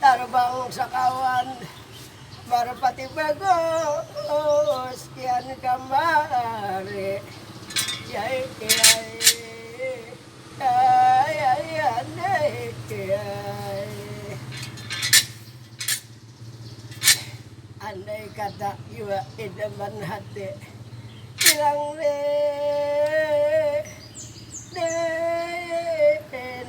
Tarbang sakawan marpati bagus pian kamari yai Andai kata jua idaman hati bilang Din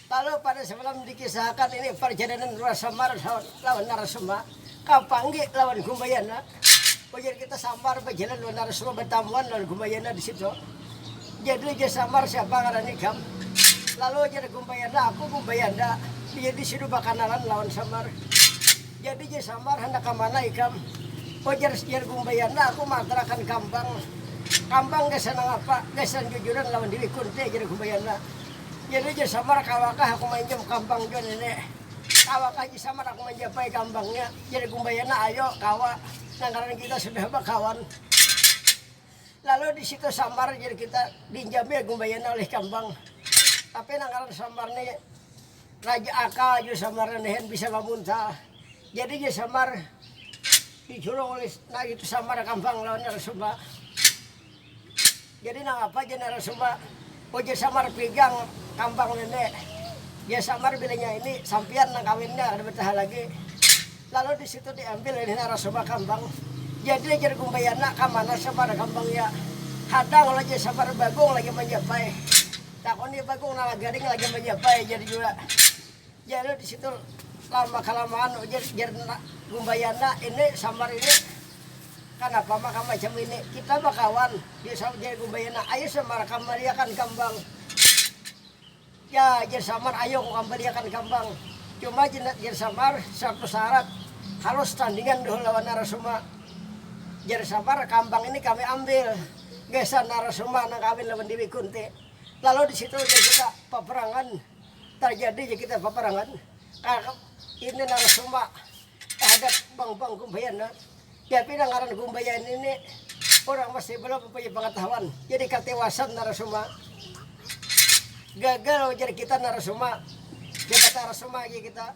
Kalo pada samalam dikisahakan ini parjalanan Rua Samar lawan Narasoma ka Panggi lawan Gumayana, ujar kita Samar bajalan lawan Narasoma batamuan lawan Gumayana di situ. Jadi ujar Samar siapa ngaran ikam? Lalu ujar Gumayana aku Gumbayanda, ujar di situ bakanalan lawan Samar. Jadi ujar Samar handak ka mana ikam? Ujar jar Gumbayanda aku maantarakan kambang. Kambang gasan nangapa? Gasan jujuran lawan Dewi Kunti, ujar Gumbayana. Jadi Haji Samar kawakah aku mainjam kambang jua nini? Kawakah Haji Samar aku manjapai kambangnya? Jar Gumbayana, ayo kawa, nang ngarannya kita sudah bakawan. Lalu di situ Samar jar kita diinjami Gumbayana oleh kambang. Tapi nang ngaran Samar ni raja akal jua Samar nihan bisa mamuntal. Jadi Haji Samar diculung oleh nah itu Samar kambang lawan Narasumba. Jadi nangapa Jeneral Sumba ujar samar pigang kambang nini. Jar samar bilanya ini sampiyan nang kawinnya kada bataha lagi. Lalu di situ di ambil oleh Nara Sumba kambang. Jadi jar Gumbayana kamana samar kambang ya. Hadang lah jar samar Bagong lagi manjapai. Takuni Bagong nala garing lagi manjapai jar jua. Jar di situ lama kalamaan ujar jar gumbayana ini samar ini kanapa maka macam ini kita bakawan di saut jar gumbayana ayu samar kam baliakan kambang ya jar samar ayu ku kam baliakan kambang cuma jar samar satu sarat harus tandingan dahulu lawan narasuma jar samar kambang ini kami ambil gasan narasuma nang kawin lawan dewi kunti lalu di situ jar kita paperangan. Tarjadi ja kita paparangan tarhadap ini narasumba, tarhadap bang-bang Gumbayan nah. Ya pina ngaran Gumbayan ini urang masih belum mempunyai pengetahuan. Jadi katiwasan narasumba. Gagal ujar kita narasumba. Siapa tarasumba lagi kita.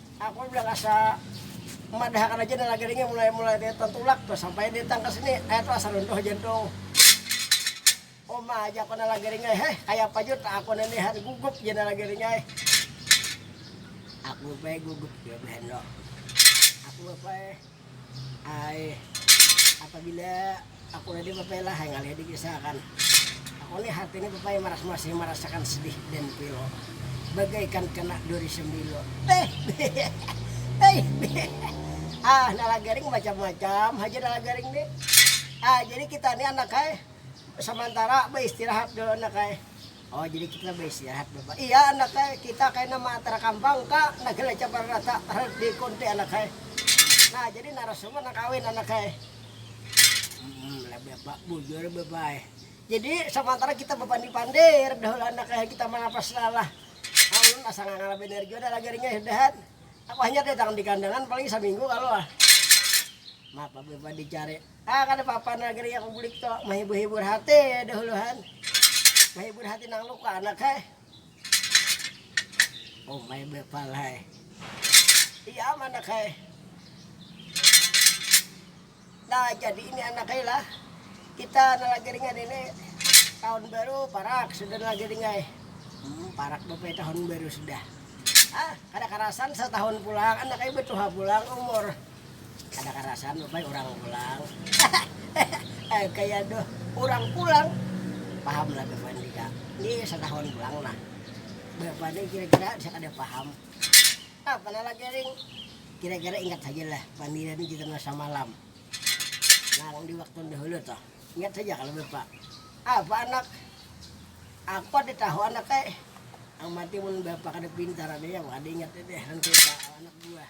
Aku udah asa madahakan aja nang lagi ringin mulai mulai tadi tantulak tuh sampai datang ke sini air tuh asa runtuh jantung uma aja aku nang lagi ringin heh kayapa jua tak aku nang lihat gugup ja nang lagi ringin aku bae gugup jua bae aku bae. Ai, apabila aku nadai bapailah, ai ngalih dikisahkan. Aku ni hati ni bapai maras masih marasakan sedih dan pilu. Bagaikan kena duri sembilu. Ah, nalagaring macam-macam haja nalagaring ni. Ah, jadi kita ni anak ai samantara baistirahat dulu anak ai. Oh jadi kita baistirahat bapak. Iya anak hai, kita kaina maatar kambang ka nagara cabar rata harus di kunti anak hai. Nah jadi narasumber nang kawin anak hai. Hmm, bapak bujur bapak hai. Jadi samantara kita bapandi pandir dahulu anak hai kita manapas salah. Kaulun asa ngangala banar jua dah lagarinya sudahan. Aku hanyar datang di kandangan paling saminggu kalu ah. Mapa bapak dicari. Ah kada papa nah geria ku bulik tu, mahibur hibur hati dahulu han, mahibur hati nang luka anak hai, umai bepal hai, iya am anak hai, nah jadi ini anak ai lah, kita nalagiringan ini tahun baru parak sudah nalagiring ai, hmm parak bapak ai tahun baru sudah, ah kada karasan setahun pulang anak ai betuha pulang umur. Kada karasan bapai urang pulang. Hahaha kaya duh urang pulang. Paham lah bevan jika ni satahun pulang nah. Bevan ni kira kira bisa kada paham. Napa nah lah garing. Kira kira ingat haja lah pandiran kita nah samalam. Nang di waktu dahulu tuh. Ingat haja kalo bapa. Apa anak. Aku kada tahu anak ai. Nang panting mun bapa kada pintar ada yang kada ingat ini. Nang kaya anak buah.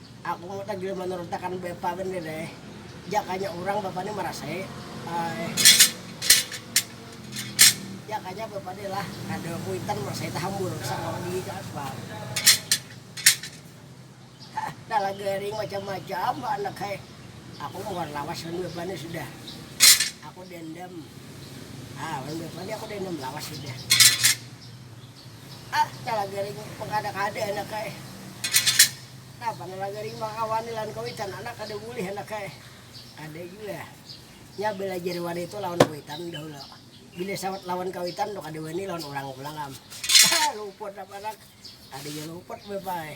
Aku kada jua manurut akan bapa banar eh, jakanya urang bapa ni marasai eh, jakanya bapa ni lah kada kuitan marasai tahambur sakawah gigi ka aspal. Hah talah garing macam macam ba anak hai, aku muhar lawas wan bapa ni sudah, aku dendam ah wan bapa ni aku dendam lawas sudah. Ah, kala garing mangkada-kada anak ai. Napa nala garing mangawani lawan kawitan anak kada bulih anak ai. Kada jua. Nya balajar wani tu lawan kawitan dahulu. Bila sawat lawan kawitan tu kada wani lawan urang pulang am. Haa luput am anak. Kada jua luput bapak ai.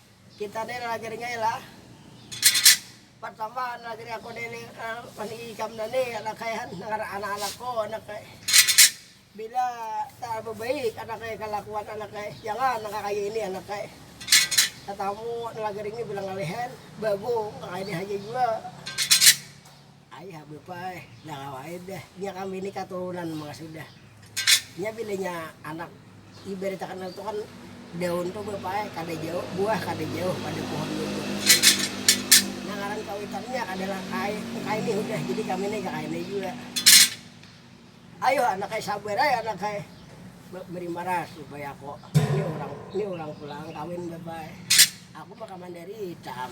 Kita ne lagi ringai lah. Pertama lagi ri aku ne mani ikam ne ni lakai han ngaran anak-anak ko anak ai. Bila tak bebaik anak ai kelakuan anak ai jangan nang kaya ini anak ai. Tetamu lagi ringi bila ngalih han bagung nang kaya ini haja jua. Ai habib ai, dah lawa ai dah, nya kami ni katurunan manga sudah, nya bila nya anak ibarat akan itu kan daun tu bapak ai kada jauh buah kada jauh pada pohon itu, nah ngaran kawitan nya adalah kai kai ni hudah jadi kami ni ka kai ni jua, ayuh anak ai sabar ai anak ai beri marah supaya ko ni urang ni urang pulang kawin bapak ai, aku maka mandarita am.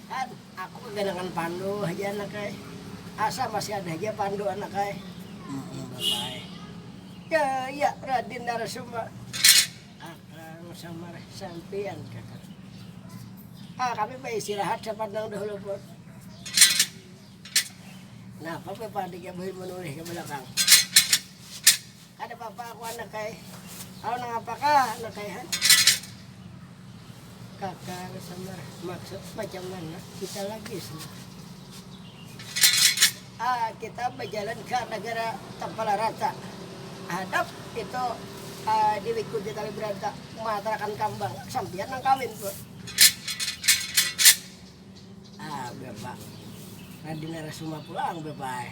An, aku kaganangan pandu haja anak ai, asa masih ada haja pandu anak ai. Heeh bapa ai. Ya, ya Radin Narasoma, akang samar sampiyan kakang. Ah, kami baistirahat sapandang dahulu pun. Napa bapa adik ya buhi manulih ka balakang. Kada papa aku anak ai. Au nangapa kah anak ai ha. Kaka aku samar, maksud macam mana kita lagi samar. Ah kita bajalan ka nagara tapala rata. Hadap itu ah di wiku di tali beranta matarakan kambang sampiyan nang kawin ko. Ah bapa, radi narasuma pulang bapa ai.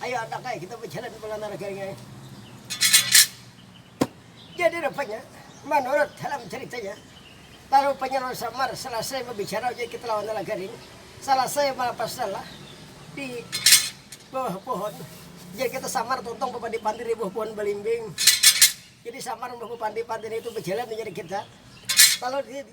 Ayo anak ai kita bajalan pulang nang ragaring ai. Jadi rupanya manurut dalam caritanya lalu Panyeror Samar salasai babicara ujar kita lawan nang ragaring salasai malapas nalah di bawah pohon ujar kita Samar tuntung bapandir-pandir di bawah pohon balimbing. Jadi Samar umbah bapandir-pandir itu bajalan ujar kita lalu di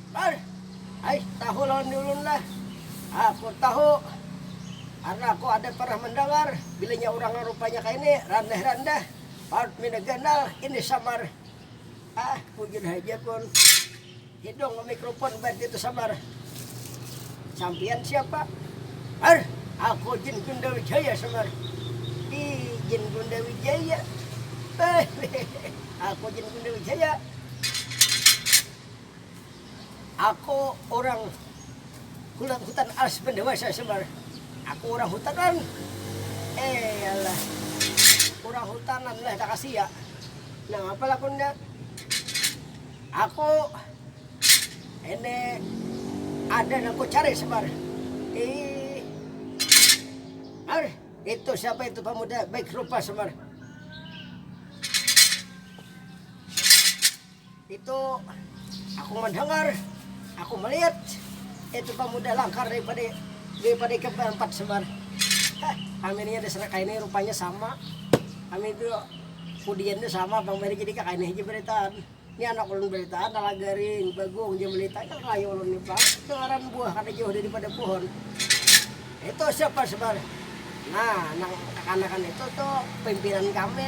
Bar, ai tahu lawan diulun lah. Aku tahu, karna aku ada pernah mandangar bilanya urang nang rupanya kaya ini, randah-randah, parut minda ganal, ini samar. Ah, bujur haja pun, hidung mamikrupun ubat ngitu samar. Sampiyan siapa? Bar, aku Jin Gunda Wijaya samar. Ih, Jin Gunda Wijaya. Hehehe, aku Jin Gunda Wijaya. Aku urang kulat hutan alas pendewasa semar aku urang hutanan eyalah urang hutanan lah takasia nangapa lakunnya aku ini ada nang kucari semar iih ar itu siapa itu pamuda baik rupa semar. Itu aku mandangar, aku malihat itu pamuda langkar daripada daripada ikam baempat sabar. Hah, kami ni ada serak kaini rupanya sama. Kami itu kudian tu sama pang bari jadi kakaini haja baritaan. Ni anak ulun baritaan nala garing, bagung jar balita nya kaya ulun ni pang dengaran buah kada jauh daripada pohon. Itu siapa sabar? Nah, nang kakanakan itu tu pimpinan kami.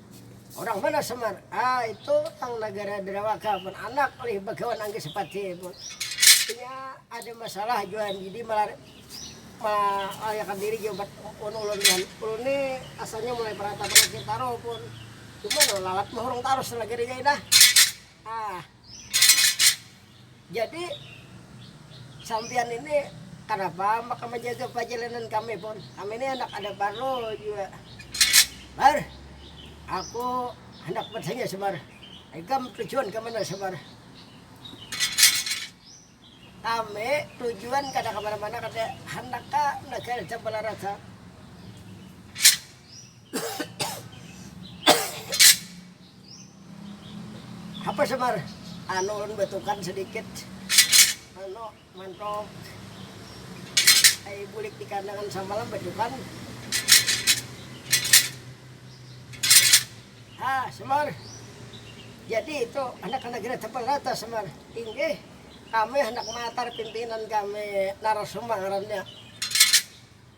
Urang mana Semar? Ah, itu tang nagara Derawaka pun anak ulih bagawan anggi Sepati pun. Inya ada masalah jua jadi malariakan diri jua wan ulun wan. Ulun ni asalnya mulai peratapan di Citaru pun, cuma no lalat mahurung tarus nagarinya nih dah. Ah. Jadi, sampiyan ini kanapa maka manjaga pajalanan kami pun? Kami ni handak ada parlu jua. Mar, aku handak bertanya Semar, ikam tujuan ka mana Semar? Kami tujuan kada ka mana-mana, handak ka negara Campalarat ha. Apa Semar? Anu ulun batukan sedikit. Anu mantok ai bulik di kandangan samalam batukan. Ha Semar, jadi itu handak kada kira tapal rata Semar? Inggih, kami handak maatar pimpinan kami Narasoma ngarannya.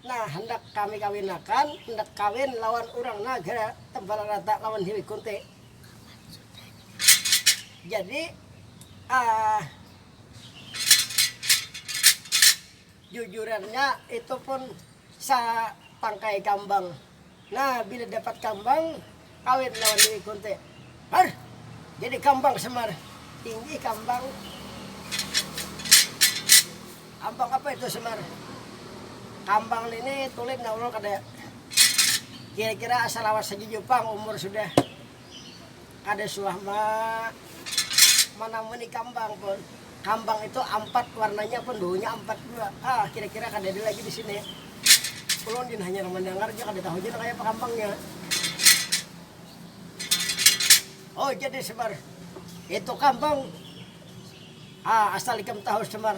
Nah, handak kami kawinakan, handak kawin lawan urang Naga Tebal Rata lawan Hiwi Kunti. Jadi, ah, jujurannya itu pun satangkai kambang Nah, bila dapat kambang, kawin lawan Dewi Kunti. Har! Jadi kambang Semar. Tinggi kambang. Kambang apa itu Semar? Kambang nini tulin naulun kada. Kira-kira asa lawas saja jua pang umur sudah. Kada suah ma manamuni kambang pun. Kambang itu ampat warnanya pun baunya ampat jua. Hah, kira-kira kada ada lagi di sini. Ulun gin hanyar mandangar ja kada tahu ja nang kaya apa kambangnya. Oh, jadi Semar, itu kambang? Hah, asal ikam tahu Semar.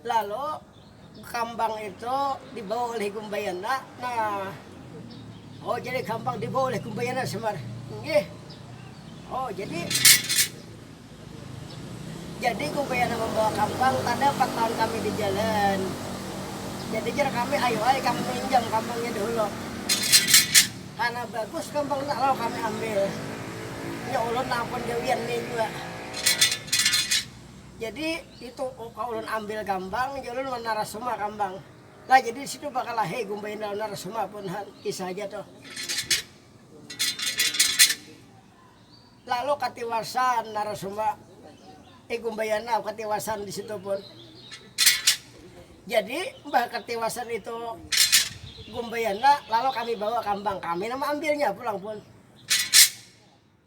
Lalu, kambang itu dibawa ulih Gumbayana. Nah, oh jadi kambang dibawa ulih Gumbayana Semar. Inggih. Oh jadi, jadi Gumbayana mambawa kambang kada empat lawan kami di jalan. Jadi jar kami, ayu ai kami minjam kambangnya dahulu. Karena bagus kambang nak lalu kami ambil. Nya ulun nang pun gawian ni jua. Jadi itu ulun ambil gambang ja ulun wan narasuma kambang. Lah jadi di situ bakalahi gumbaina lawan narasuma pun ha kisah haja tuh. Lalu katiwasan narasuma eh gumbayana katiwasan di situ pun. Jadi mbah katiwasan itu gumbayana lalu kami bawa kambang kami nang maambilnya pulang pun.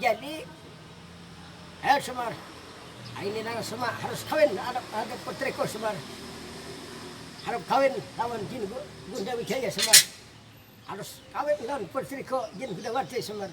Jadi, ayo Semar, aini nang Sema harus kawin anak haja putriku Semar. Harap kawin lawan Jin Gunda Wijaya Semar. Harus kawin lawan putriku Jin Gundawati Semar.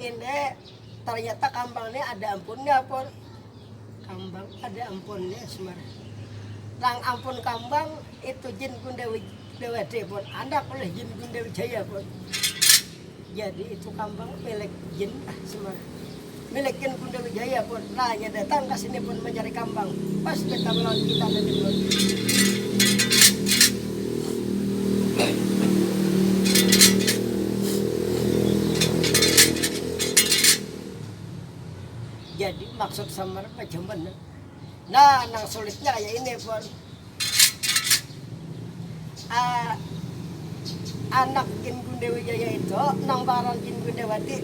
Ini ternyata kambang ini ada ampunnya pun. Kambang ada ampunnya semar. Nang ampun kambang itu jin Gundewi Dewade pun anak oleh jin Gundewi Jaya pun. Jadi itu kambang milik jin ah semar. Milik jin Dewi Jaya pun, lah inya datang ka sini pun mancari kambang, pas datang lawan kita Jadi maksud samar macam mana. Nah nang sulitnya kaya ini pun. uh, anak Gin Gundewijaya itu nang baran Gin Gundewati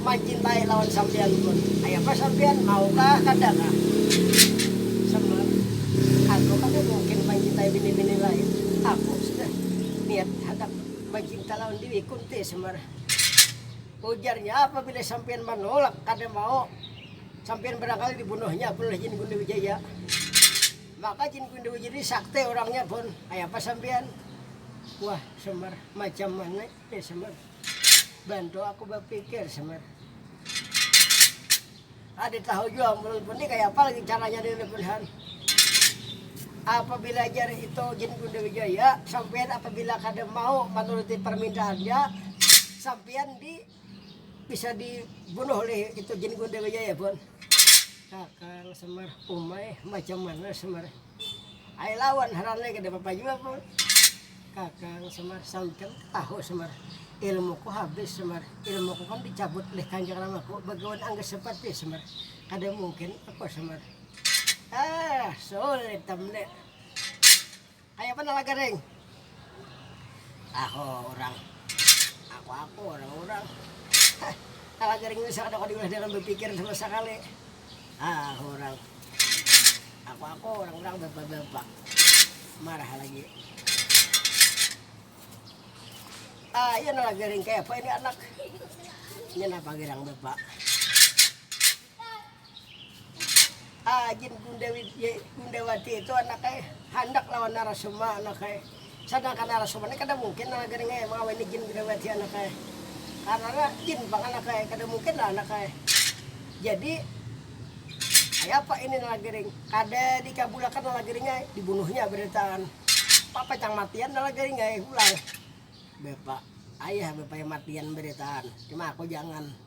mancintai lawan sampian pun ayah apa sampian mau kah kada kah sama aku kada mungkin mancintai bini-bini lain aku sudah niat hadap mancinta lawan diri kunti semar ujarnya apabila sampian menolak kada mau Sampiyan barangkali dibunuhnya pun oleh Jin Gundi Wijaya. Maka Jin Gundi Wijaya ini sakti orangnya pun. Kaya apa sampiyan? Wah, Semar, macam mana ini Semar? Bantu aku bapikir Semar. Kada tahu jua ulun pun ni kaya apa lagi caranya ni ulun pun han. Apabila jar itu Jin Gundi Wijaya, sampiyan apabila kada mau manuruti parmintaannya, sampiyan di Bisa dibunuh oleh itu jin Gundil Wijaya pun. Kakang Semar, umai macam mana Semar? Ai lawan harannya kada apa-apa jua pun. Kakang Semar, sampian tahu Semar, ilmuku habis Semar, ilmuku kan dicabut oleh Kanjeng Ramaku bagawan Angga Separti Semar, kada mungkin aku Semar. Ah, sulit am ne. Kayapa nala garing. Aku urang. Aku aku urang urang. Hah. Nala garing bisa kada kawa diulah dalam bapikir sama sakali. Aku urang. Aku aku urang urang bapa bapak. Marah lagi. Ah iya nala garing kayapa ini anak. Inya napa girang bapa. Ajin Gundawati itu anaknya handak lawan Narasoma anaknya, sadangkan Narasoma ni kada mungkin lah gini mengawini Jin Gundawati anaknya, karena jin pang anaknya kada mungkin lah anaknya, jadi kayapa ini lah gini kada dikabulakan lah gini ai dibunuhnya baritaan papacang matian lah gini ai pulang bapa ayah bapanya matian baritaan cuma aku jangan.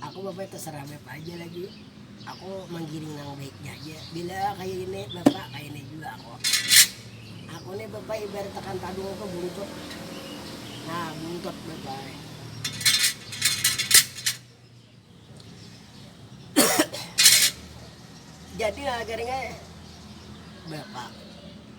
Aku bapak terserah bapak aja lagi, aku manggiring nang baiknya aja, bila kaya ini bapak kaya ini jua aku, aku nih bapak ibarat akan tadung tuh buntut nah buntut bapak ai. Jadi nang kaya ini bapak.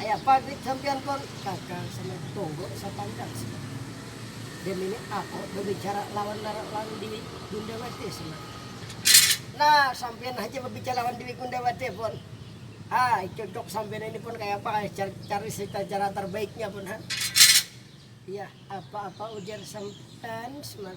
Kaya pagrit sampiyan pun bakal sama tunggu sapantang sih. Demini ako babicara lawan narak lawan diwi gundawati sima. Nah sampiyan haja babicara lawan diwi gundawati pun ha cocok sampiyan ini pun kaya apa kaya cari sita cara tarbaiknya pun ha. Yah apa apa ujar sampan sima.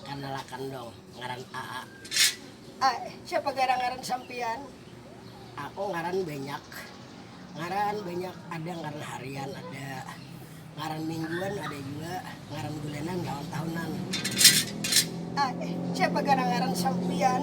Kanalakan dong, ngaran aa. Ae, siapa garang ngaran sampian? Aku ngaran banyak. Ngaran banyak ada ngaran harian ada, ngaran mingguan ada jua, ngaran bulanan lawan tahunan. Ae, siapa garang ngaran sampian?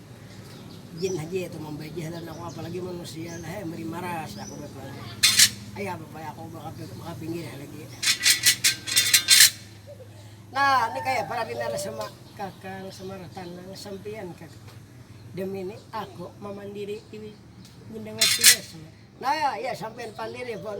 Jin haja itu mambajah lawan aku apalagi manusia lah ai meri maras aku bapalai ai apa pala aku makapinggir lagi nah ni kaya apa lagi narasama kakang samara tanang sampiyan kak demi ni aku mamandiri bunda wati mas nah ya sampiyan pandiri pun.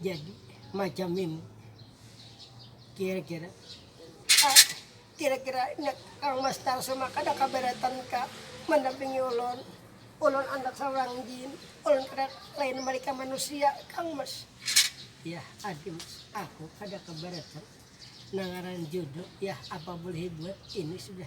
Jadi macam ini. Kira-kira ah, kira-kira nya Kang Mas Tarsuma kada kaberatan ka mendampingi ulun. Ulun anak seorang jin, ulun kada lain mereka manusia, Kang Mas. Yah, adi Mas, aku kada keberatan. Nang ngaran jodoh, yah apa boleh buat, ini sudah.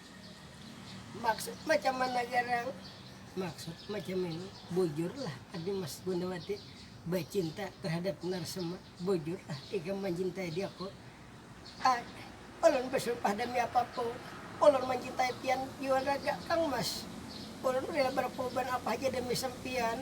Maksud macam mana garang? Maksud macam ini, bujurlah Adi Mas Gunawati bacinta terhadap Narsema, bujurlah ikam mancintai diaku. Ad, ulun basumpah demi apapun, ulun mancintai pian jua raga Kang Mas, ulun rela berkorban apa haja demi sampiyan.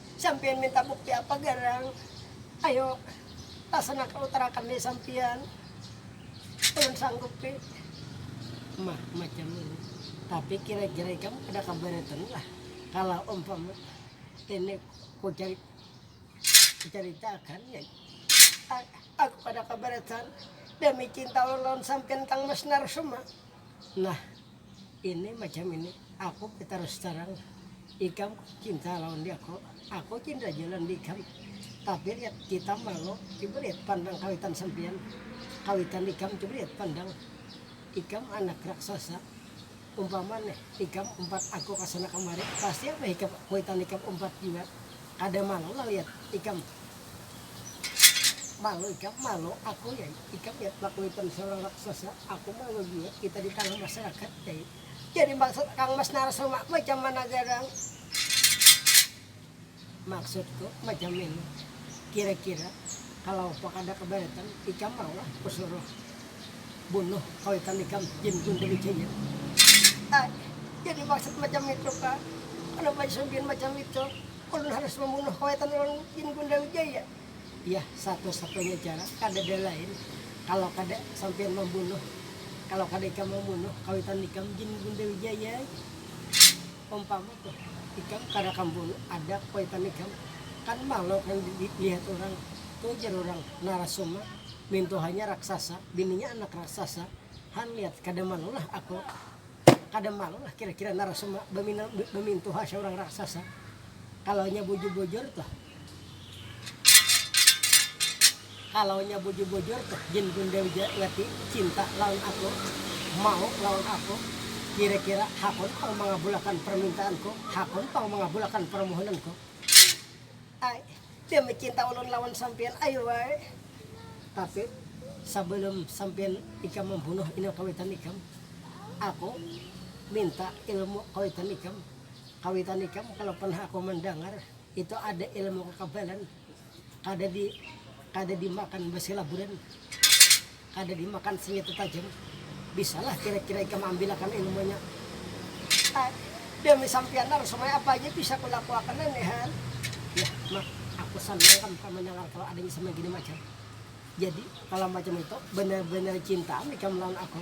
Sampiyan minta bukti apa garang? Ayo tasana ka utarakan ni sampiyan. Ulun sanggup pi. Mah macam ini. Tapi kira-kira ikam kada kabaritan lah kalo umpama ini ku caritakan ya. Aku kada kabaritan demi cinta ulun lawan sampiyan Kang Mas Narsuma. Nah, ini macam ini, aku batarus tarang, ikam cinta lawan diaku, aku cinta jua lawan diikam, tapi lihat kita malu, coba lihat pandang kawitan sampiyan, kawitan ikam coba lihat pandang, ikam anak raksasa, umpama nih ikam umpat aku ka sana kamari, pasti apa ikam kuwitan ikam umpat jua, kada malu lah lihat ikam. Malu ikam, malu aku Nyai. Ikam lihat lakuitan seorang raksasa, aku malu jua kita di tangah masyarakat Nyai. Jadi maksud Kang Mas Narasoma macam mana Gadang? Maksudku macam ini, kira-kira kalau apa kada keberatan ikam maulah kusuruh bunuh kawitan ikam Jin Gundewijaya? Ai, jadi maksud macam itu kah? Kenapa Jin Sumbian macam itu? Ulun harus mambunuh kawitan lawan Jin Gunda Wijaya? Yah, satu-satunya cara kadada lain kalau kada sampiyan mambunuh, kalau kada ikam mambunuh kawitan ikam Jin Gunda Wijaya ai. Umpama tuh ikam kada kam bunuh ada kawitan ikam, kan malu nang dilihat urang tuh jar urang Narasoma mintuhanya raksasa, bininya anak raksasa, han lihat kada malulah aku. Kada malu lah kira-kira Narasoma bamintuha saurang raksasa kalaunya bujur-bujur tuh. Kalaunya bujur-bujur tuh Jin Gundewati cinta lawan aku, mau lawan aku, kira-kira hakun pang mangabulakan parmintaanku, hakun pang mangabulakan parmohonanku. Ai, demi cinta ulun lawan sampiyan ayu ai. Tapi, sabalum sampiyan ikam mambunuh inang kawitan ikam, aku minta ilmu kawitan ikam. Kawitan ikam kalu pernah aku mandangar itu ada ilmu kakabalan, kada di kada dimakan basilaburan. Kada dimakan senjata tajam, bisalah kira-kira ikam ambilakan ilmunya. Hah, demi sampiyan Nar, sumai apa haja bisa kulakuakan nah ni Han. Yah Mak, aku sanang kam ka mandangar kalu adanya sumai gini macam. Jadi, kalu macam itu, banar-banar cintaam ikam lawan aku.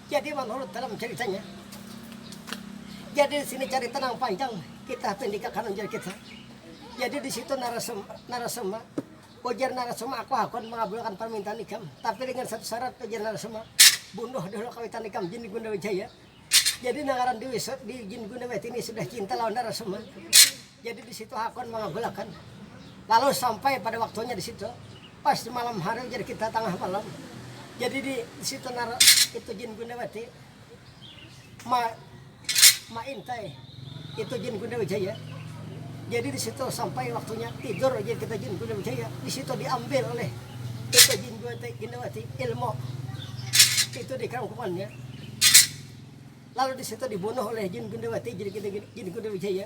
Jadi manurut dalam caritanya, jadi di sini carita nang panjang kita pendikakan ujar kita. Jadi di situ narasum, narasuma, ujar narasuma aku hakun mengabulkan permintaan ikam, tapi dengan satu syarat ujar narasuma, bunuh dulu kawitan ikam Jin Gunda Wijaya. Jadi nangaran di, di Jin Gunda Wijaya ini sudah cinta lawan narasuma. Jadi di situ hakun mangagul akan lalu sampai pada waktunya di situ pas di malam hari jadi kita tangah malam jadi di situ nara itu jin gundawati ma ma intai itu jin gundawijaya jadi di situ sampai waktunya tidur jadi kita jin gundawijaya di situ diambil oleh itu jin gundawati ilmu itu di kerangkumannya lalu di situ dibunuh oleh jin gundawati jadi kita jin gundawijaya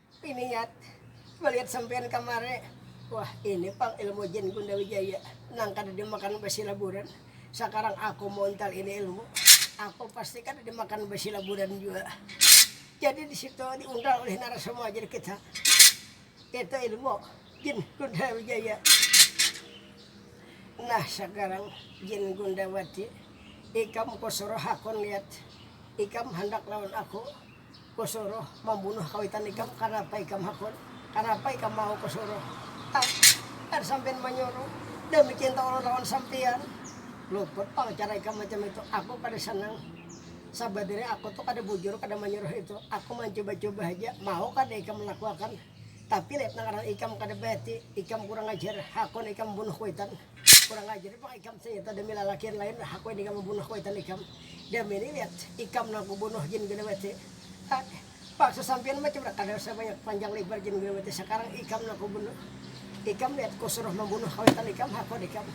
Piniat, malihat sampiyan kamari, wah ini pang ilmu jin Gunda Wijaya nang kada dimakan basilaburan, sakarang aku mauntal ini ilmu, aku pasti kada dimakan basilaburan jua. Jadi di situ diuntal oleh narasumua jin kita, itu ilmu jin Gunda Wijaya. Nah sakarang jin Gundawati, ikam kusuruh hakun lihat, ikam handak lawan aku. Kusuruh mambunuh kawitan ikam, kanapa ikam hakun? Kanapa ikam mau kusuruh? Tang, ar sampiyan manyuruh, dami cinta ulun lawan sampiyan. Luput pang cara ikam macam itu, aku kada sanang. Sabanarnya aku tu kada bujur kada manyuruh itu, aku mancuba-cuba haja, mau kada ikam melakuakan. Tapi lep nang ngaran ikam kada bahati, ikam kurang ajar, hakun ikam mambunuh kuwitan. Kurang ajar ni pang ikam saita demi lalakian lain hakuin ikam mambunuh kuitan ikam demi ni liat ikam nang kubunuh jin guna mati ha paksa sampian macam mana kada usah banyak panjang lebar jin guna mati sakarang ikam nang kubunuh ikam liat kusuruh mambunuh kawitan ikam hakun ikam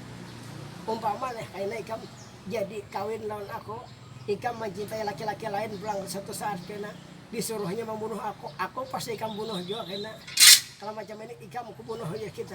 umpama leh kaina ikam jadi kawin lawan aku ikam mancintai laki-laki lain pulang satu saat kena disuruhnya mambunuh aku aku pasti ikam bunuh jua kena kalau macam ini ikam kubunuh haja kita.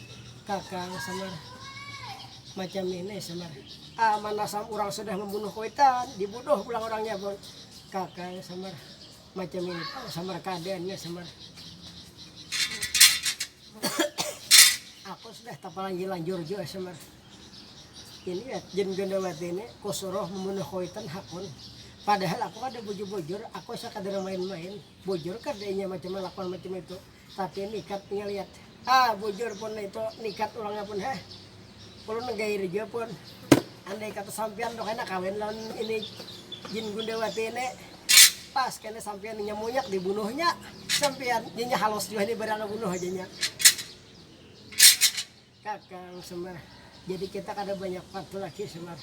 Kakang samar, macam nih nai samar, aman asam urang sudah mambunuh kuitan dibunuh pulang urangnya pun. Kakang samar, macam ini pang samar kaadaannya samar, aku sudah tapalanjur-lanjur jua samar, ini jin gandawati ini kusuruh mambunuh kuitan hakun, padahal aku kada bujur-bujur aku sakadar main-main, bujur kada inya macam kalakuan macam itu. Tapi nikat nya liat ah bujur pun nitu nikat urang nya pun heh ulun nang gair jua pun andai kata sampian tu kena kawin lawan ini jin gundewati ini pas kena sampian inya munyak di bunuh nya sampian inya halus jua ni barang bunuh aja nya. Kakang Semar, jadi kita kada banyak waktu lagi Semar,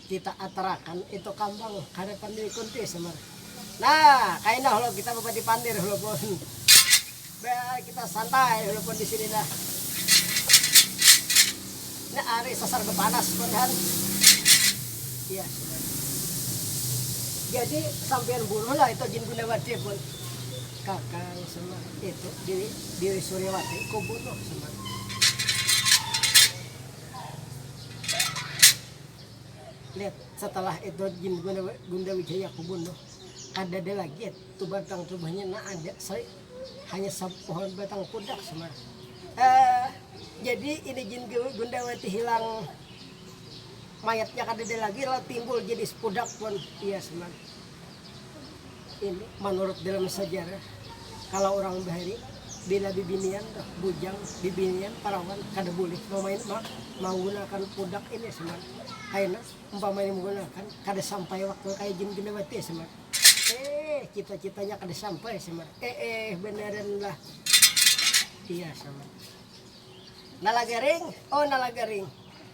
kita atarakan itu kambang ka hadapan Dewi Kunti Semar. Nah, kaina hulu kita babati pandir hulu pun. Biar kita santai hulu pun disini nah. Nya ari sasar bapanas pun han. Iya Semar. Jadi sampiyan bunuhlah itu Jin Gundawati pun. Kakang Semar itu bini Suryawati ku bunuh Semar. Lihat setelah itu gin Gunda Wijaya ku bunuh kadada lagi tu batang rumahnya na ada sri hanya sapohon batang pudak Semar. Eh jadi ini gin Gundawati hilang mayatnya kadada lagi lalu timbul jadi sepudak pun iya Semar. Manurut dalam sajarah, kalo urang bahari bila bibinian tuh, bujang bibinian parawan kada bulih mamain magunakan pudak ini Smart kaina umpamanya menggunakan kada sampai waktu kaya jin ginawati Smart eehh cita-citanya kada sampai Smart eehh banaranlah iya Smart nalagaring oh nalagaring.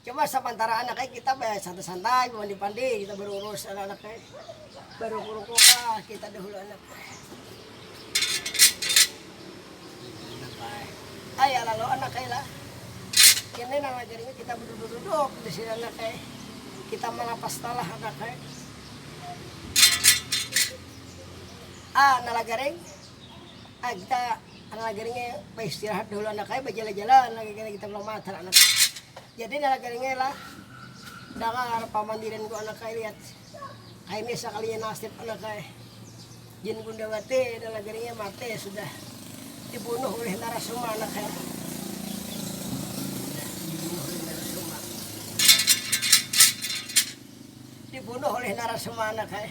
Cuma sapantara anak ai kita baya santai-santai, bamandi-pandi, kita berurus anak-anak ai. Baruku-ruku kah kita dahulu anak. Kaya lalu anak ai lah. Kini nang ajarinya kita beduduk-duduk di sini anak ai. Kita malapas talah anak ai. Ah, nalajaring. Nah kita nalagari nya baistirahat dahulu anak ai bajalan-jalan lagi kena kita mama antar anak jadi nalagari nya lah dangar pamandiran ku anak ai lihat ai nih sakalinya nasib anak ai jin gundawati nalagari nya mati sudah dibunuh ulih narasoma anak ai dibunuh ulih narasoma anak ai.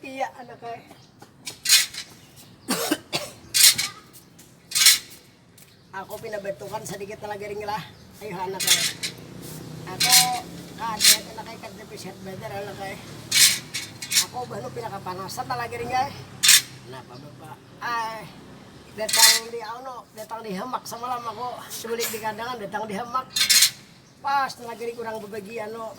Iya anak ai. Aku pina bentukan sedikit lah garing lah. Ayuh anak ai. Aku kada anak ai kada pisehat banar anak ai. Aku baru pina kepanasan lah garing ai. Kenapa bapak? Ai datang di ano datang di hamak semalam aku sebelik di kandangan datang di hamak pas tengah garing kurang berbagi ano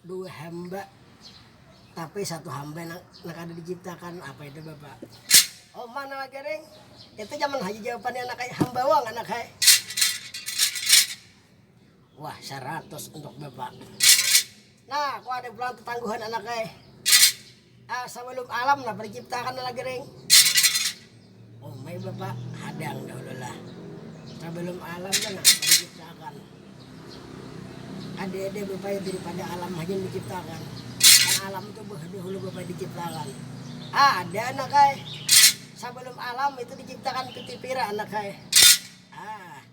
Dua hamba tapi satu hamba nang kada diciptakan apa itu bapak oh mana lagi ring itu zaman haji jawabannya anak hai hamba wong anak hai wah seratus untuk bapak nah kau ada pulang tetangguhan anak hai Sabalum alam napa diciptakan lagi ring umai bapa hadang dahulu lah sabalum alam tu napa diciptakan ade ade bapa itu pada alam haja diciptakan kan alam tu dahulu bapa diciptakan ada anak ai sabalum alam itu diciptakan piti pira anak ai haa.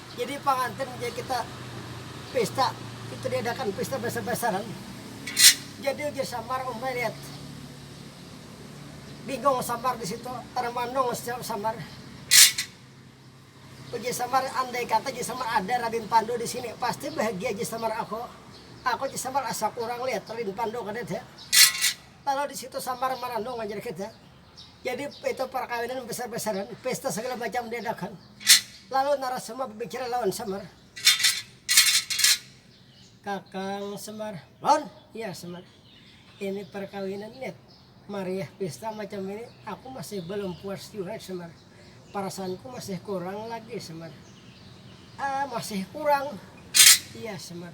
Jadi pangantin ja kita pesta itu diadakan pesta basar-basaran. Jadi ujar samar umai liat bingung samar disitu tarang mandung samar. Ujar samar andai kata jar samar ada radin pandu disini pasti bahagia jar samar aku. Aku jar samar asa kurang liat radin pandu kada ada. Lalu disitu samar maranung jar kita jadi itu parkawinan basar-basaran pesta segala macam diadakan. Lalu Narasoma babicara lawan Semar, Kakang Semar, lawan iya Semar, ini parkawinan Nip, mariah pista macam ini aku masih balum puas jua Semar, perasaanku masih kurang lagi Semar, Ah masih kurang? iya Semar.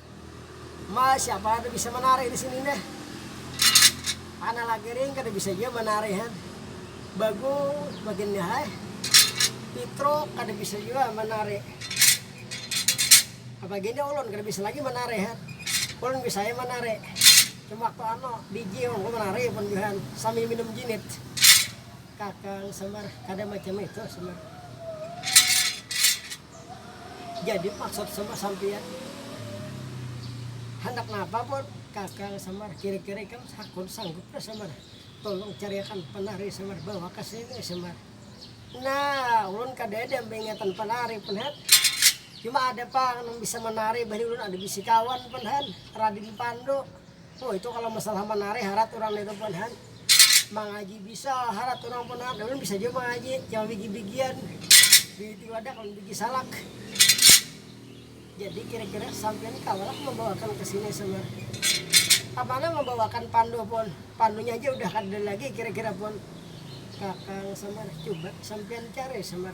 Ma, siapa ada bisa manarik di sini neh. Tanah lagi ring kada bisa jua manarik han. Bagus bagian ni hai. Pitruk kada bisa jua manarik. Apa gini ulun kada bisa lagi manarik han. Ulun bisa ai manarik. Cuma waktu anu biji ulun kawa manarik pun jua han sambil minum jinit. Kakang sambar kada macam itu sambar. jadi maksud sama sampiyan handak napa pun kakal samar kiri kiri ikam hakun sanggup dah samar tulung cariakan penari samar bawa ka sini samar nah ulun kada ada baingatan penari pun han cuma ada pang nang bisa menari bahini ulun ada bisi kawan pun han radin pandu. Oh itu kalau masalah manari harat urang nitu pun han mangaji bisa harat urang pun harat ulun bisa jua mangaji cuma bigi-bigian bigi wadak dan bigi salak jadi kira-kira sampean kawalah membawakan ke sini sama kemana membawakan pandu pun pandunya aja udah kada lagi kira-kira pun kakang samar coba sampean cari samar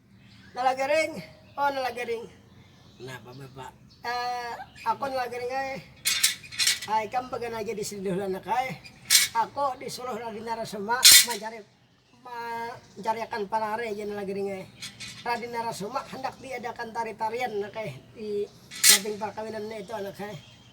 Nalagaring, oh nalagaring. Napa bapak? Eh, ako nalagaring ai. Ah, ikam bagana aja di sini dahulu anak ai. Ako disuruh Radin Narasoma mancari mancariakan panari jar nalagaring ai. Radin Narasoma handak diadakan tari-tarian anak ai di samping parkawinannya itu anak ai.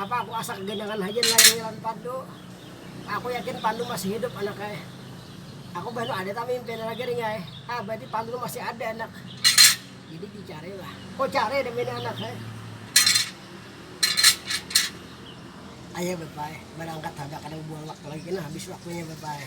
Apa aku asa kaganyangan haja nalayangi lawan Pandu? Aku yakin Pandu masih hidup anak ai. Aku bah no ada tah mimpi no lagi ring ai. Ah berarti Pandu no masih ada anak. Jadi di cari lah. Ko cari demi ni anak ai. Ayo bye bye, barangkat haja kada babuang waktu lagi kena habis waktunya bye bye.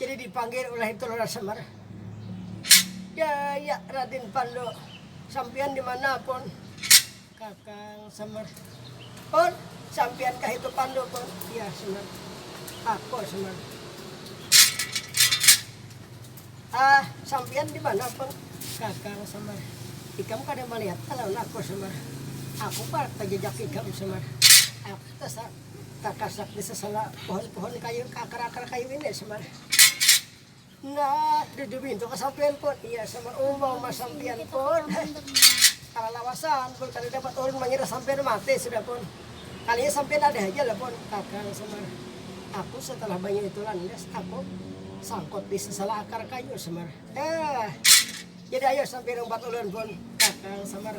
Jadi dipanggil ulah itu Lurah Samar. Daya Radin Pandu, sampian dimana Pun? Kakang Samar. Pun, sampian kah itu Pandu Pun? Iya Samar. Aku Samar. Ah, sampian dimana Pun? Kakang Samar. Ikam kada malihat kah lawan aku Samar? Aku parak tajajak ikam Samar. Aku tasa. Takasak di sasala pohon-pohon kayu, ka akar-akar kayu ini samar. Nah, di dubintu ka sampian pun. Iya samar, umang ma sampian pun. Kalalawasan pun kada dapat ulun mangira sampian mati sudah pun. Kalinya sampian ada haja lah pun. Takal samar, aku satalah banyu itu landas, aku sangkut di sasala akar kayu samar. Nah. Jadi ayo sampiyan umpat ulun pun kakang samar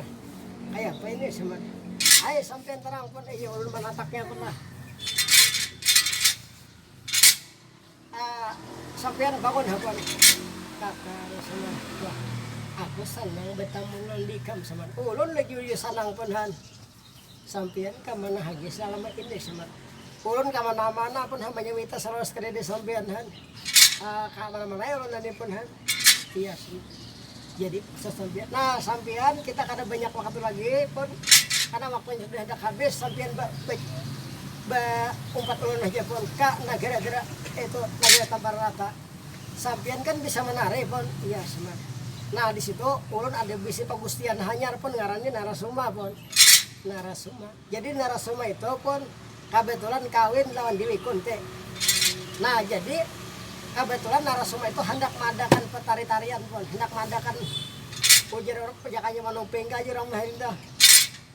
kaya apa ini samar ayo sampiyan tarang pun iya ulun manataknya pun lah uh, sampiyan bangun ha pun kakang samar wah aku sanang betamu nang dikam samar ulun lagi uyu sanang pun han Sampiyan ka mana haja salamat ini samat. Ulun ka mana mana pun ha manyawita salawas kadada sampiyan han. Ka mana mana ai ulun tadi pun han. Iya si. Jadi pesan sampiyan nah sampiyan kita kada banyak waktu lagi pun karena waktunya sudah handak habis sampiyan ba ba umpat ulun haja pun ka nagara gara itu nagara tampar rata. Sampiyan kan bisa manari pun, iya Sma. Nah di situ ulun ada bisi pagustian hanyar pun ngarannya Narasoma pun. Narasoma. Jadi Narasoma itu pun kabetulan kawin lawan Dewi Kunti. Nah jadi kabetulan Narasoma itu handak maadakan petari-tarian pun, handak maadakan ujar urang apa jakanya manuping kah jar urang bahari tuh.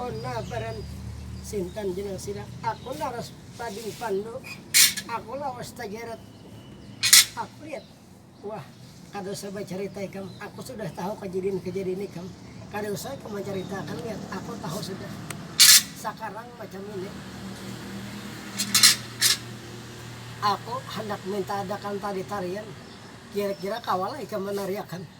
Onna baran sintan jenang sila aku laras tading pandu aku lawas tajeret aku liat wah kada usah bacarita ikam aku sudah tahu kejadian kejadian ikam kada usah ikam mancarita akan liat aku tahu sudah sakarang macam ini aku handak minta adakan tari tarian kira kira kawalah ikam manari akan.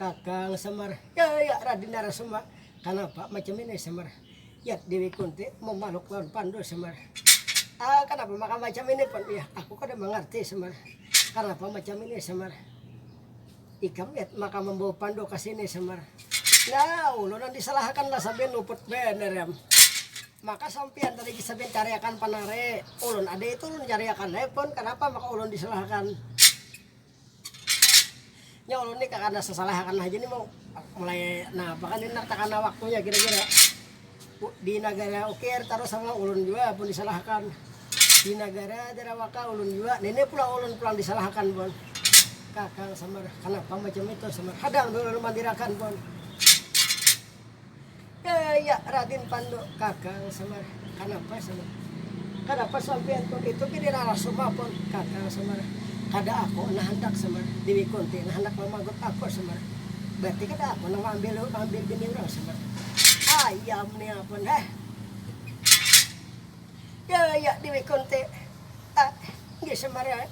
Kakang Semar, Ya, ya, Raden Narasoma, kanapa macam ini Semar? Yat Dewi Kunti mamaluk lawan Pandu Semar, Ah, kanapa maka macam ini Pan Iya? Aku kada mangarti Semar, kanapa macam ini Semar? Ikam Yat maka mambawa Pandu ka sini Semar, Nah, ulun nang disalahakan lah sampiyan luput banar am, maka sampiyan tadi sampiyan cariakan Pan ari ulun ada itu ulun cariakan ai Pan, kanapa maka ulun disalahakan? Nya ulun ni kakana sasalah akan haja ni mau mulai nah bahkan ini takana waktunya kira-kira di negara ukir taruh sama ulun juga pun disalahkan di negara Jarawaka ulun juga nah ini pulang ulun pulang disalahkan pun kakang samar kenapa macam itu samar kadang dulu ulun mandirakan pun Kaya Radin Pandu kakang Semar kanapa Semar kanapa sampian tu itu gin dirarasuma pun kakang Semar kada aku nah handak Semar Dewi Kunti nah handak mamagut aku Semar berarti kada aku nang maambil maambil bini urang Semar ayam nia pun heh Kaya Dewi Kunti ah nggih Semar ai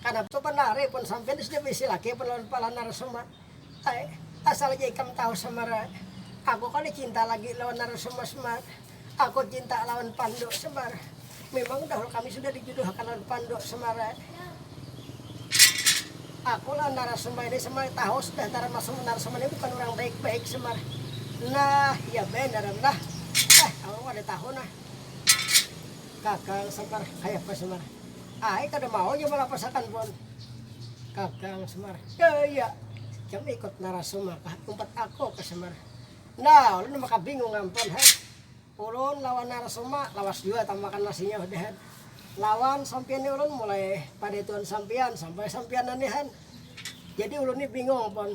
kanapa tu banar ai pun sampian sudah baisi laki pun lawan kepala narasuma. Ai, asal haja ikam tahu Semar ai, aku kada cinta lagi lawan Narasoma Semar, aku cinta lawan Pandu Semar, mimang dahulu kami sudah dijuduhakan lawan Pandu Semar ai, aku lawan Narasoma ini Semar ai tahu sudah Narasoma Narasoma ini bukan urang baik baik Semar, nah ya banar am lah, eh aku kada tahu nah, gagal Semar, kayapa Semar. Ai kada mau inya malapasakan pun. Kakang Semar, Daya, ikam ikut narasum apa umpat aku ka Semar. Nah, ulun maka bingung ampun ha. Ulun lawan narasum ma lawas jua tang makan nasinya udah han. Lawan sampiyan ni ulun mulai padaituan sampiyan sampai sampiyan nanihan. Jadi ulun ni bingung pun.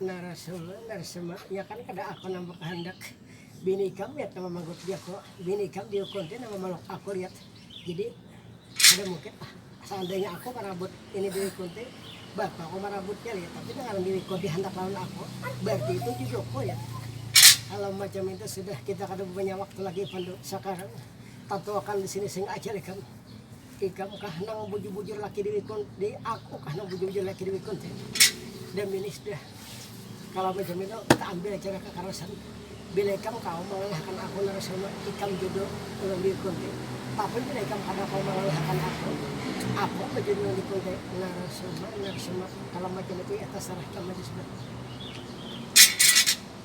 Narasoma, Narsema, iya kan kada ako nang bakahandak. Bini ikam liat nama manggut diako. Bini ikam diukun ti nama maluk ako liat. Jadi kada mungkin lah saandainya ako marabut ini diwikun ti bapa ko marabutnya liat. Tapi nang ngaran diwikun dihandak lawan ako barti itu jodoh ko liat. Kalau macam itu sudah kita kada punya waktu lagi Pandu. Sakarang tatuakan disini sehingga ajal ikam. Ikam kah nang bujur-bujur laki diwikun di aku kah nang bujur-bujur laki diwikun ti The Minis dah Kalau macam itu kita ambil cara kakarasan bila ikam kawa mangalahakan aku Narasoma ikam judul ulun diwikun ti tapi bila ikam kada kawa mangalahakan aku aku ba judul ulun diwikun ti Narasoma Narasoma Kalau macam itu ya tasarah ikam haja sudah.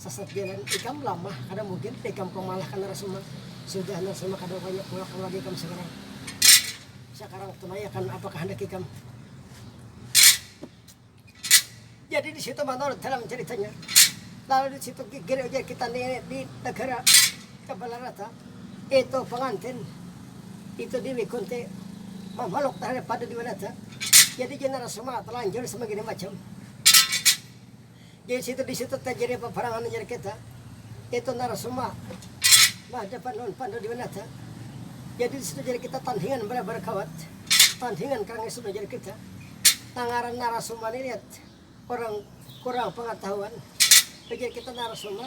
Sasat jalan ikam lamah kada mungkin ikam kamalahkan narasoma sudah narasoma kada wayah pulang ka marga ikam sakarang sakarang tunaiakan apa kahandak ikam jadi di situ manurut dalam caritanya lalu di situ gigir ujar kita nenek di negara kebalah rata itu pengantin itu Dewi Kunti memeluk terhadap pada Dewi Rata jadi jenara semua terlanjur semegini macam Di situ di situ tajadi paparangan jar kita itu narasumba bahadapan lawan Pandu Dewi Nata jadi di situ jar kita tandingan balabar kawat tandingan karangi sudah jar kita nang ngaran narasumba ni lihat orang kurang pangatahuan ujar kita narasumba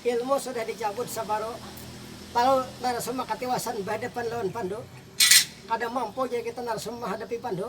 ilmu sudah di cabut sabaru talu narasumba katiwasan bahadapan lawan Pandu kada mampu jar kita narasumba mahadapi Pandu.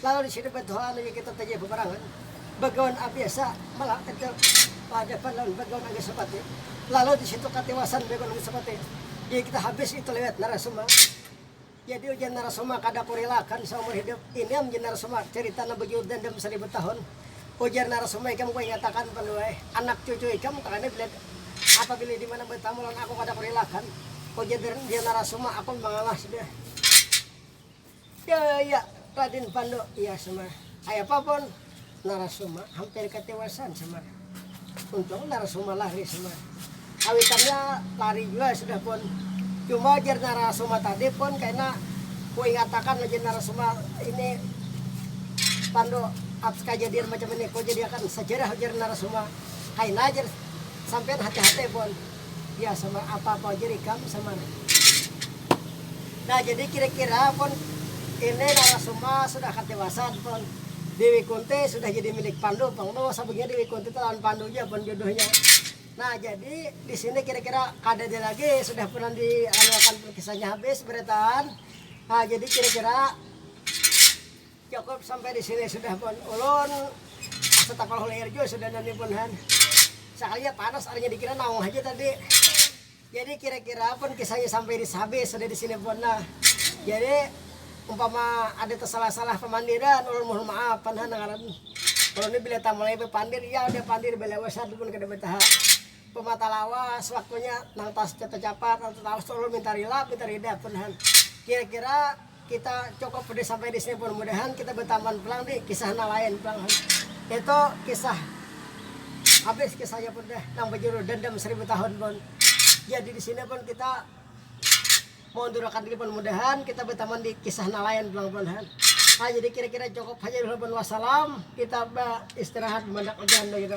Lalu di situ badoa lalu inya kita tajadi paparangan bagawan abiasa malah kada bahadapan lawan bagawan angin sapati lalu di situ katiwasan bagawan angin sapati jadi kita habis itu liwat narasoma jadi ujar narasoma kada kurilakan saumur hidup ini am jar narasoma carita nang bajuhur dandam saribu tahun ujar narasoma ikam ku ingatakan panduai anak cucu ikam takani bila apabila dimana batamu lawan aku kada kurilakan ujar narasoma aku mangalah sudah. Daya Raden Pando iya sama kaya papon Narasoma hampir katiwasan sama untung Narasoma lari sama kawitannya lari jua sudah pon cuma jar Narasoma tadi pon kaina kuingatakan ujar Narasoma ini Pando atas kajadian macam ini kujadiakan sajarah ujar Narasoma kaina jar sampian hati-hati pon. Ya samar apa apa aja rikam samar. Nah jadi kira kira pun ini narasoma sudah akan dewasa pun Dewi Kunti sudah jadi milik Pandu pun mau sabagnya Dewi Kunti itu lawan Pandu aja pun jodohnya. Nah jadi di sini kira kira kada ada lagi sudah pun di anu akan kisahnya habis berataan. Nah jadi kira kira Cukup sampai di sini sudah pun ulun setakolah liar jua sudah nani pun han sakalinya panas arinya dikira naung haja tadi jadi kira-kira pun kisahnya sampai di habis sudah di sini pun nah jadi umpama ada tersalah-salah pemandiran ulun mohon maaf pan han ngaran ulun ni bila tamulai bepandir ya udah pandir bila besar pun kada betaha pemata lawas waktunya nang tas capat nang tetawas ulun minta rila minta rida pun han kira-kira Kita cukup pedih sampai di sini pun. Mudahan kita betaman pulang di kisah nang lain pulang. Itu kisah habis kisahnya pun deh nang bejudul Dendam Seribu Tahun pun. Jadi di sini pun kita maundurakan diri pun mudahan kita betaman di kisah nang lain pulang pun. Nah, jadi kira-kira cukup saja dulu pun wassalam. Kita beristirahat mendak hujan gitu.